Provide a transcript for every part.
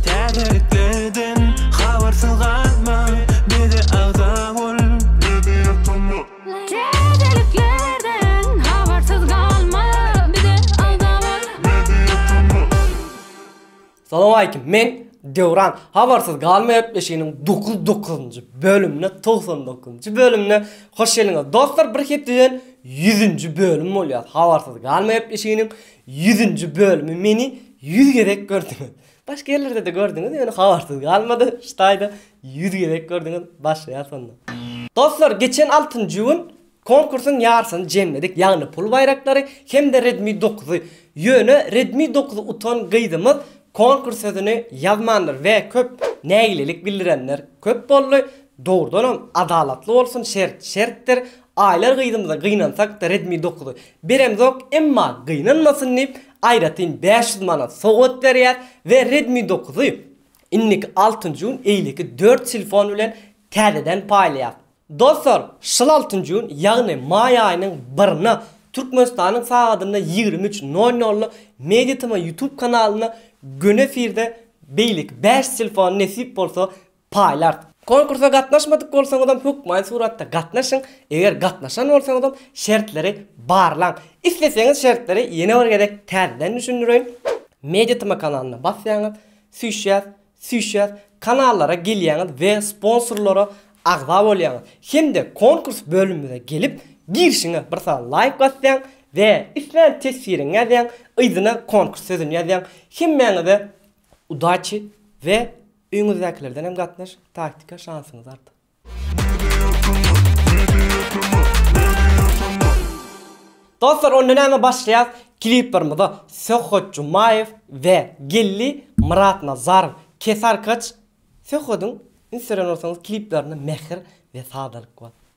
Täzeliklerden habarsyz galma, bize agza bol. Täzeliklerden habarsyz galma, bize agza bol. Salowmaleýkim, men Döwran. Habarsyz galma gepleşiginiň dokuz dokuzynjy bölümine togsan dokuzynjy bölümine hoş geldiňiz. Dostlar, bir hepdeden ýüzünji bölüm bolýar. Habarsyz galma gepleşiginiň Ýüzünji bölümi meni ýüz gezek gördüňiz. Başga ýerlerdede gördüňiz ýöne habarsyz galmady şu taýda ýüz gezek gördüňiz başlaýas onda. Dostlar geçen altynjy gün konkursyň ýarsyny jemledik ýagny pul baýraklary hemde redmi dokuzy ýöne redmi dokuzy utan gyzymyz konkurs sözüni ýazmandyr we köp nägilelik bildirenler köp boldy dogrudanam adalatly bolsun şert şertdir Aýlar gyzymyza gynansak-da Redmi dokuz beremzok, emma gynanmasyn diýip, aýratyn bäş ýüz manat sowgat berýäs we Redmi dokuz y indiki altynjy gün eýleki dört telefon bilen täzeden paýlaýas. Dostlar, şyl altynjy gün, ýagny maý aýynyň birine Türkmenistanyň sagadynda ýigrimi üç nol nolda MediaTm YouTube kanalynda göni efirde beýleki bäş telefon nesip bolsa Paýlart. Konkursa gatnaşmadyk bolsaňyzam hökmany suratda gatnaşyň, eger gatnaşan bolsaňyzam şertleri barlaň. Isleseňiz şertleri ýene bir gezek täzeden düşündireýin. Media tma kanalyna basýaňyz, süýşýäs, süýşýäs, kanallara gelýäňiz we sponsorlara agza bolýaňyz. Hem-de konkurs bölümimize gelip, girişiňe bir sany laýk basýaň we islän teswiriňi ýazýaň, yzyna konkurs sözüni ýazýaň. Hemmäňize Udaçi we öýňüzdäkilerden hem gatnaş taktika şansyňyz artar. Dostlar onda näme başlaýas kliplerimize Söhbet Jumaýew we Gelli Myratnazarow Kesarkaç Söhbediň instagramyna barsaňyz kliplerinde mähir we sadalyk bar.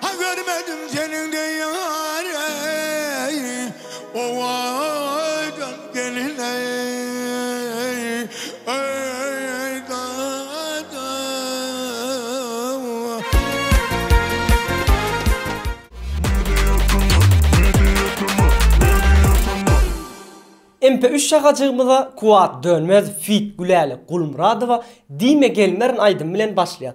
Ha görmedim seniň deý ýary, owadan gelin eý, eý dada. MP üç şahajygymyza Kuwat Dönmez feat Gülälek Gulmyradowa Diýme gelmerin aýdymy bilen başlaýas.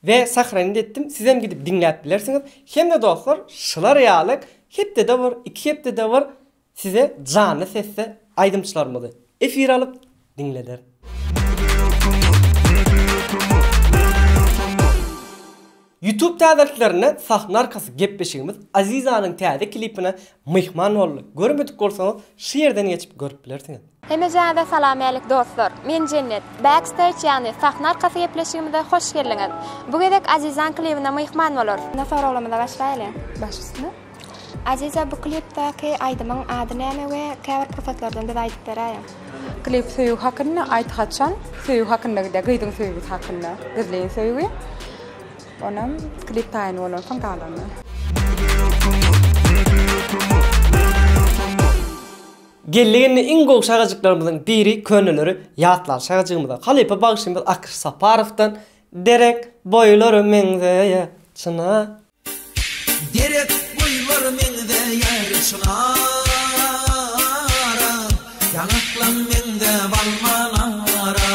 We sahranyny etdim sizem gidip diňläp bilersiňiz hemde dostlar şular ýaly hepdede bir iki hepdede bir size janly sesde aýdymçylarymyzy efire alyp diňleder. Youtube täzeliklerinde sahna arkasy gepleşigimiz Azizanyň täze klipine myhman boldy görmedik bolsaňyz şu ýerden geçip görüp bilersiňiz. Hemejäňize salamalik dostlar! Men Jennet. Backstage ýagny sahna arkasy gepleşigimize hoş geldiňiz! Bu gezek Azizaň klibine myhman bolarys. Indi soraglarymyza başlaýly. Baş üstüne. Aziza bu klipdäki aýdymyň ady näme we käbir pursatlardan bize aýdyp beräýiň. Klip söýgi hakynda aýt haçan söýgi hakynda gidýär gyzyň söýgüsi hakynda gizlin söýgi onam klip taýyn bolansoň galany. Geldi-geldi iň gowy şagajyklarymyzyň biri köneleri ýatlan şagajygymyza halypa bagşymyz Akyş Saparowdan Derek boýlary meňzeýär çyna. Derek boýlary meňzeýär çynara, Ýaňaklaň meňzäp almanara.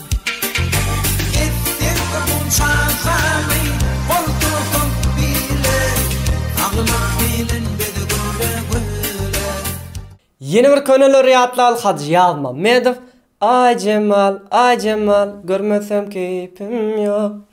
Ýene bir köneleri ýatlal Hajy Ýazmammedow Aý Jemal, aý Jemal, görmesem keýpim ýok.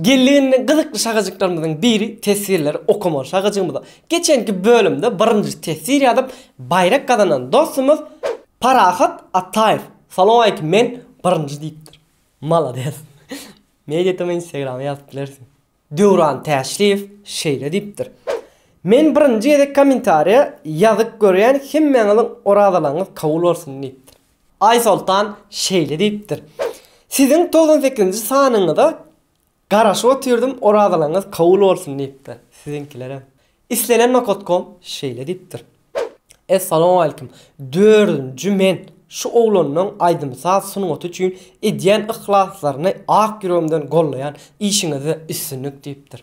Gelende gyzykly şagajyklarymyzyň biri teswirleri okamaly şagajygymyza. Geçenki bölümde birinji teswir ýazyp baýrak gazanan dostumyz Parahat Ataýew Salowmaleýkim men birinji diýipdir. Malades. Media tm instagrama ýazyp bilersiň. Döwran Täşliýew şeýle diýipdir. Men birinji gezek kommentariýa ýazyp görýän hemmäňiziň orazalaryňyz kabul bolsun diýipdir. Aýsoltan şeýle diýipdir, Siziň togsan sekizinji sanyňyza garaşyp otyrdym, orazalaryňyz kabul bolsun diýipdir. Siziňkilerem. Islenen nokatkom şeýle diýipdir, Essalawmaleýkim, dördünji men şu oglanlaryň aýdym-saz sungaty üçin edýän yhlaslaryny ak ýüregimden gollaýan, işiňizde üstünlik diýipdir.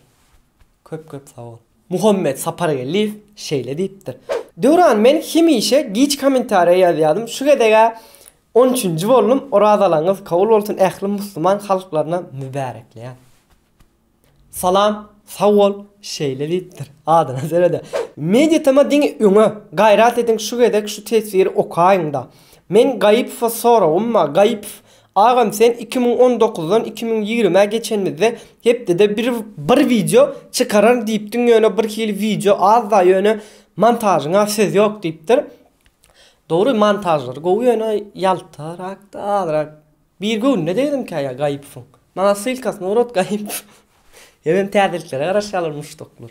Köp köp sag bol. Muhammet Sapargeldiýew şeýle diýipdir. Döwran men hemişe giç komentariýa ýazýadym şu gezegä on üçünji boldum orazalaňyz kabul bolsun ähli musluman halklaryna mübärekleýän. Salam sag bol şeýle diýipdir. Adyna serede. Mediatm-a diňe öňe. Gaýrat ediň şu gezek şu teswiri okaýyňda. Meň Gaýypowa soragym bar Gaýypow Agam sen iki müň on dokuzdan iki müň ýigrimä geçenimizde hepdede bir bir wideo çykararyn diýipdiň ýöne bir hili wideo azda ýöne montažyňa söz ýok diýipdir. Dogry montažlary gowy ýöne ýaltarakda azrak bir göwnüne degdimkä ýa Gaýypowyň. Maňa ssylkasyny ugrat Gaýypow. Hemem täzeliklere garaşýarlar muşdaklar.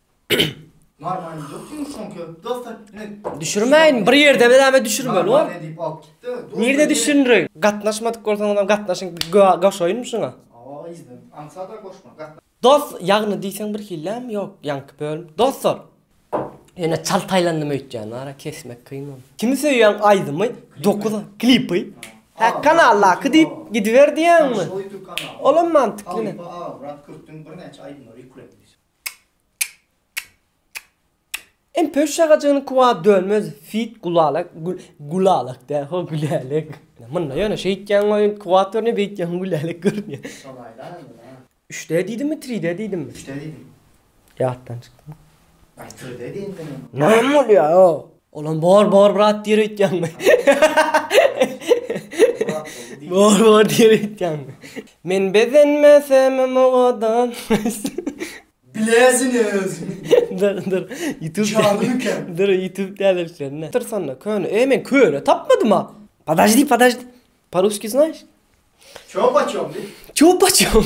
Marmany dökdüň şoňka dostlar ne? Düşürmäýin bir ýerde beläme düşürmeli bor. Marmany diýip alyp gitdi. Nirde düşündiriň? Gatnaşmadyk bolsaňyz hem gatnaşyň goşaýynmy şuňa? Awa yzdan aňsada goşma gatna. Dost ýagny diýseň bir hillämi ýok ýaňky bölüm dostlar ýöne çalt aýlandym öýtýän ara kesmek kyn ol. Kimi söýýäň aýdymy dokuz aý klipy hä kanaldaky diýip gidiber diýýäňmi? Olam mantykly ne? Halypa aga Murat Kürtüň birnäçe aýdymlary ýüklenildi. Em pöş şagajygyny kuwa dönmez fit gulalek gulalek dä ho gülälek. Munda ýöne şeýtýäň goý kuwat görünýär beýtýäň gülälek görünýär. Şolaýda onda. Üçde diýdimmi tride diýdimmi. Üçde diýdim. Ýatdan çykdymy. Ay tride diýen sen. Näme bolýar o. Olam bor bor brat diýer öýtýäňmi? Bor bor diýer öýtýäňmi? Men bezenmesem mugadam. Bileziň özüňi. Dur dur. Youtube. Şaly miken? Dur youtube täzeliklerine. Dur sanda köne. Eý men köne tapmadym a. Podajdi podajdi. Paruski znaýş? Ço paçom diý. Ço paçom.